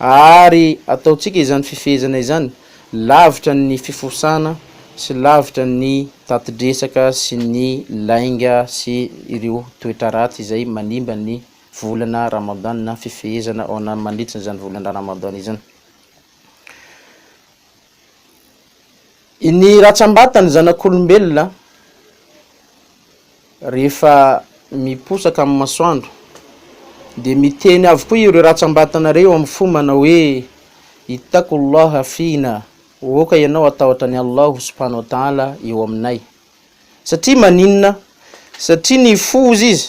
Ary ataontsika izany fifehezana izany lavitra ny fifosana sy lavitra ny tatidresaka sy ny lainga sy ireo toetra ratsy izay manimba ny volana Ramadan na fifehezana ao anaty mandritra izany volana Ramadan izany. Ny ratsam-batan'ny zanak'olombelona rehefa miposaka amin'ny masoandro dia miteny avokoa ireo ratsam-batana ireo eo amin'ny fo manao hoe ittaqullaha fina, aoka ianao hatahotra an'i Allahu subhanahu wa ta'ala eo aminay. Satria maninona? Satria ny fo hozy izy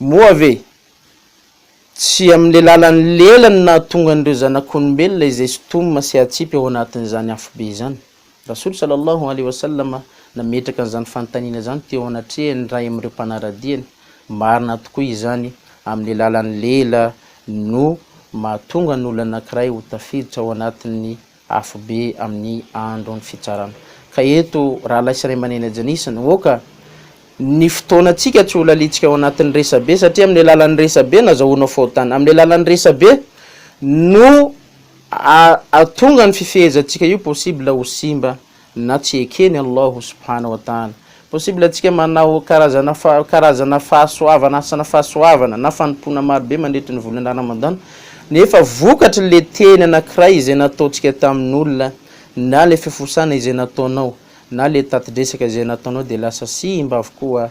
Moa ve tsy amin'ilay lalan'ny lela no nahatonga an'ireo zanak'olombelona izay sintomina sy hatsipy ao anatin'izany afobe izany? Rasool Sallallahu Alaihi Wasallam nametraka an'izany fanontaniana izany teo anatrehan'ny iray amin'ireo mpanara-diany, Marina tokoa izany, amin'ilay lalan'ny lela no mahatonga ny olona anankiray ho tafiditra ao anatin'ny afobe amin'ny andron'ny fitsarana. Ka eto, rahalahy sy raiamandreny ajanisa ny hoaka, ny fotoanantsika tsy ho lalintsika ao anatin'ny resabe, satria amin'ny alalan'ny resabe no azahoanao fahotana, amin'ny alalan'ny resabe no ahatonga ny fifehezantsika io possible ho simba na tsy ekeny Allahu subhana wa taala. Possible antsika manao karazana karazana fahasoavana asana fahasoavana na fanompoana maro be mandritra ny volana Ramadan nefa vokatry le teny anankiray izay nataontsika tamin'olona na le fifosana izay nataonao na le tatidresaka izay nataonao dia lasa simba avokoa